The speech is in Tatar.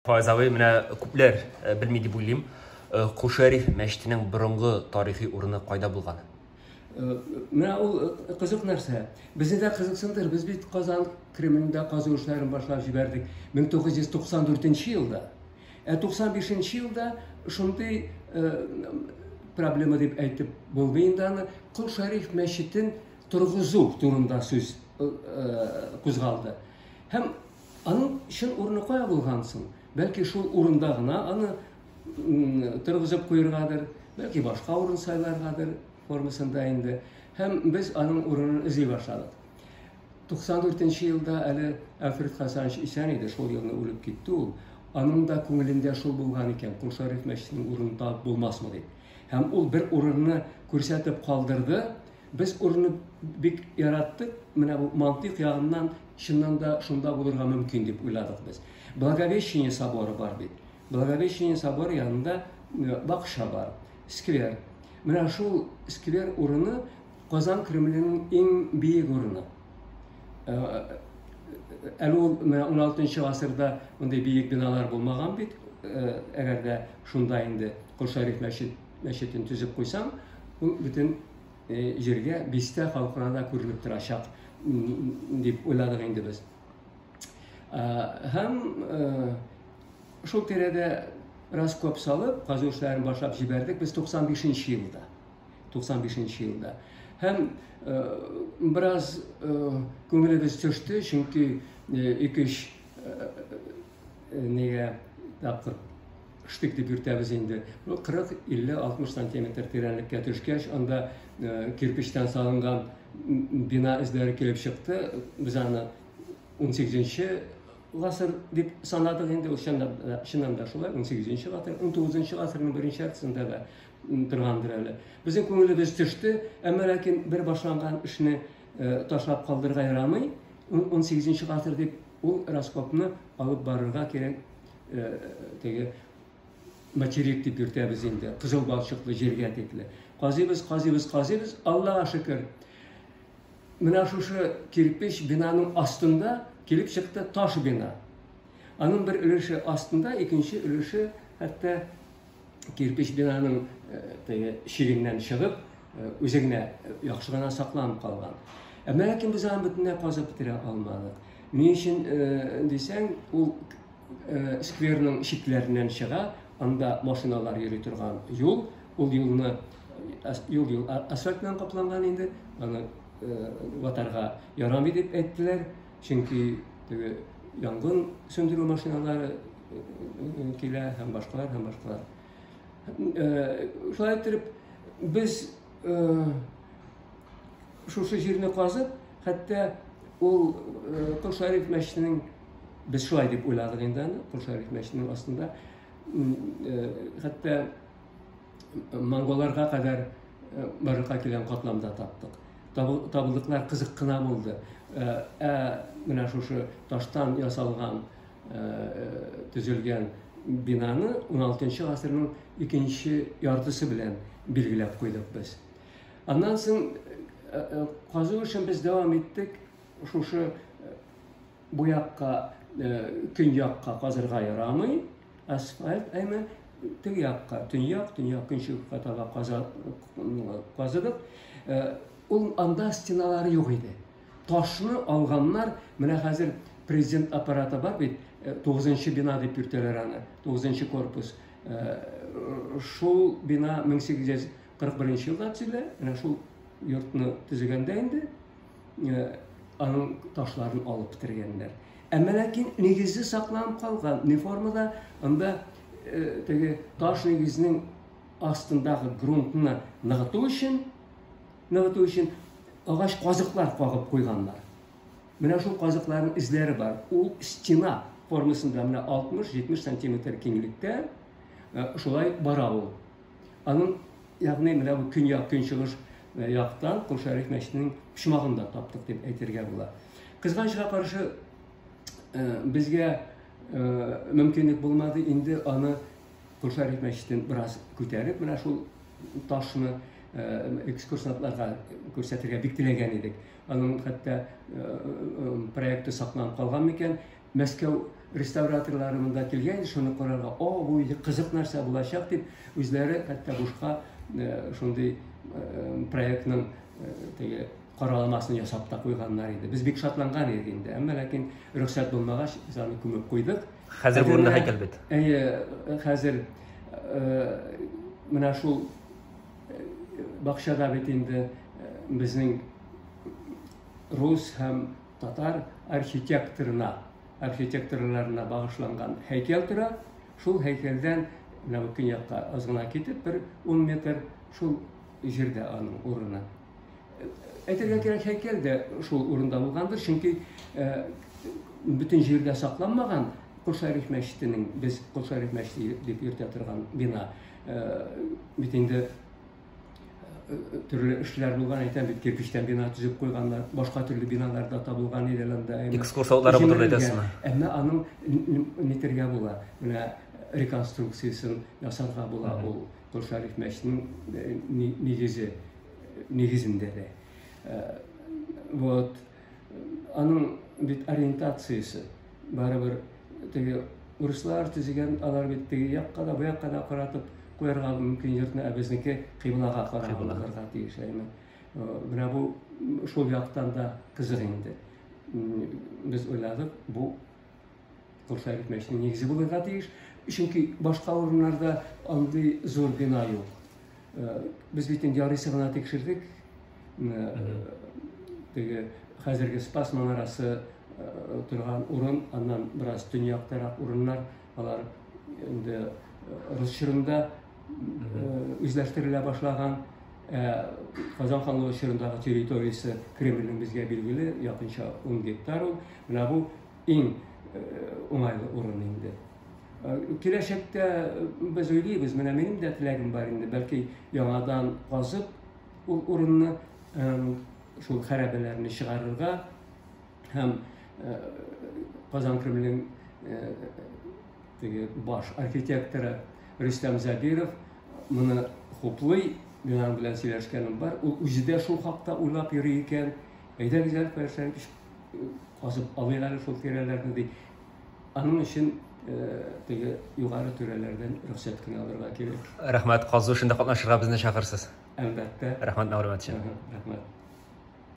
Файз абый, менә күпләр белми дип уйлыйм. Кушәриф мәчетенең борынгы тарихи урыны кайда булган? Менә ул кызык нәрсә. Безне дә кызыксындыр. Без бит Казан Кремлендә казу эшләрен башлап җибәрдек 1994 елда. Ә 95 елда шундый проблема дип әйтеп булмый инде аны кол шәриф мәчетен торгызу турында сүз кузгалды һәм Аның чын урыны кая булган соң? Бәлки шул урында гына аны торгызып куергадыр, бәлки башка урын сайларгадыр формасында инде. Һәм без аның урынын эзли башладык. 94 нче елда әле Әлфред Хасанович исән иде, шул елны үлеп китте ул. Аның да күңелендә шул булган икән, Кулшариф мәчетенең урынын табып булмасмы дип. Һәм ул бер урынны күрсәтеп калдырды, Без урынны бик яраттык, менә бу мантыйк ягыннан чыннан да шунда булырга мөмкин дип уйладык без. Благовещение соборы бар бит. Благовещение соборы янында э, бакча бар, сквер. Менә шул сквер урыны Казан Кремленең иң биек урыны. Э, әле ул менә 16 гасырда мондый биек биналар булмаган бит. Э, әгәр дә шунда инде Кол Шәриф мәчет мәчетен төзеп куйсаң, ул бөтен җиргә, бистә халкына да күренеп торачак дип уйладык инде без. Һәм шул тирәдә раз коп салып, казу эшләрен башлап җибәрдек без 95 елда. 95 елда. Һәм бераз күңелебез төште, чөнки ике-өч Нигә тапкыр штык дип йөртәбез инде. Бу 40, 50, 60 сантиметр тирәнлеккә төшкәч, анда кирпечтән салынган бина эзләре килеп чыкты. Без аны 18-нче гасыр дип санадык инде ул чыннан да шулай 18-нче гасыр 19-нчы гасырның беренче яртысында да торгандыр әле безнең күңелебез төште әмма ләкин бер башланган эшне Ташлап калдырырга ярамый. 18 гасыр дип ул раскопны алып барырга кирәк. Теге материк дип йөртәбез инде. Кызыл балчыклы җиргә тикле. Казыйбыз, казыйбыз, казыйбыз. Аллага шөкер. Менә шушы кирпич бинаның астында килеп чыкты таш бина. Аның бер өлеше астында, икенче өлеше хәтта кирпеч бинаның теге чигеннән чыгып, үзе генә яхшы гына сакланып калган. Ә менә кем без аны бөтенләй казып бетерә алмадык. Ни өчен дисәң, ул скверның чикләреннән чыга, анда машиналар йөри торган юл, ул юлны юл юл асфальт белән капланган инде, аны ватарга ярамый дип әйттеләр, чөнки теге янгын сүндерү машиналары килә һәм башкалар һәм башкалар. Шулай итеп без шушы җирне казып, хәтта ул Кол Шәриф мәчетенең без шулай дип уйладык инде аны, Кол Шәриф мәчетенең астында хәтта монголарга кадәр барлыкка килгән катламда таптык. Табылдыклар кызык кына булды. Ә менә шушы таштан ясалган төзелгән бинаны 16 гасырның икенче яртысы белән билгеләп куйдык без. Аннан соң казу эшен без дәвам иттек. Шушы бу якка көньякка казырга ярамый, асфальт, әмма теге якка, төньяк, төньяк көнчыгышка таба казыдык. Ул анда стеналары юк иде. Ташны алганнар, менә хәзер Президент аппараты бар бит, э, тугызынчы бина дип йөртәләр аны, тугызынчы корпус. Э, шул бина 1841 елда төзелә, менә шул йортны төзегәндә инде э, аның ташларын алып бетергәннәр. Әмма ләкин нигезе сакланып калган, не формада, анда теге таш нигезнең астындагы грунтны ныгыту өчен Ныгыту өчен агач казыклар кагып куйганнар. Менә шул казыкларның эзләре бар. Ул стена формасында менә 60-70 сантиметр киңлектә э, шулай бара ул. Аның ягъни менә бу көньяк көнчыгыш э, яктан Кол Шәриф мәчетенең почмагында таптык дип әйтергә була. Кызганычка каршы э, безгә мөмкинлек булмады инде аны Кошарик мәчетен бераз күтәреп, менә шул ташны экскурсантларга күрсәтергә бик теләгән идек. Аның хәтта проекты сакланып калган микән? Мәскәү реставраторлары монда килгән, шуны карарга, о, бу иде кызык нәрсә булачак дип, үзләре хәтта бушка шундый проектның теге караламасын ясап та куйганнар иде. Без бик шатланган идек инде, әмма ләкин рөхсәт булмагач, без аны күмеп куйдык. Хәзер бу урында һәйкәл бит. Әйе, хәзер менә шул бакчада бит инде безнең рус һәм татар архитекторына, архитекторларына багышланган һәйкәл тора. Шул һәйкәлдән менә бу көньякка азгына китеп бер 10 метр шул җирдә аның урыны. Әйтергә кирәк, һәйкәл дә шул урында булгандыр, чөнки бөтен җирдә сакланмаган Кошариф мәчетенең, без Кошариф мәчете дип йөртә торган бина, бит инде төрле эшләр булган әйтәм бит кирпичтән бина төзеп куйганнар башка төрле биналар да табылган иде анда экскурсоводлары булды әйтәсезме әмма аның нитергә була менә реконструкциясен ясарга була ул Кол Шәриф мәчетенең нигезе нигезендә дә. Вот. Аның бит ориентациясе барыбер теге урыслар төзегән, алар бит теге якка да, бу якка да каратып куярга мөмкин йортны, ә безнеке кыйблага карап булырга тиеш. Менә бу шул яктан да кызык инде. Без уйладык, бу Курслар бетмәешнең нигезе булырга тиеш, чөнки башка урыннарда андый зур бина юк. Э, без бит инде ярыйсы гына тикшердек. Э, теге хәзерге Спас манарасы э, торган урын, аннан бераз төньяктарак урыннар, алар инде рус чорында үзләштерелә башлаган Казан ханлыгы чорындагы территориясе Кремльнең безгә билгеле якынча 10 гектар ул. Менә бу иң уңайлы урын инде. Киләчәктә без уйлыйбыз, менә минем дә теләгем бар инде, бәлки яңадан казып ул урынны шул хәрабәләрне чыгарырга, һәм э, Казан Кремлен э, теге баш архитекторы Рөстәм Забиров моны хуплый, мин аның белән сөйләшкәнем бар. Ул үзе дә шул хакта уйлап йөри икән. Әйдәгез әле Фәрсән кич казып алыйк әле шул тирәләрне ди. Аның өчен э, теге югары түрәләрдән рөхсәт кенә алырга кирәк. Рәхмәт, казу эшендә катнашырга безне чакырсыз. Әлбәттә. Рәхмәт мәгълүмат өчен. Рәхмәт.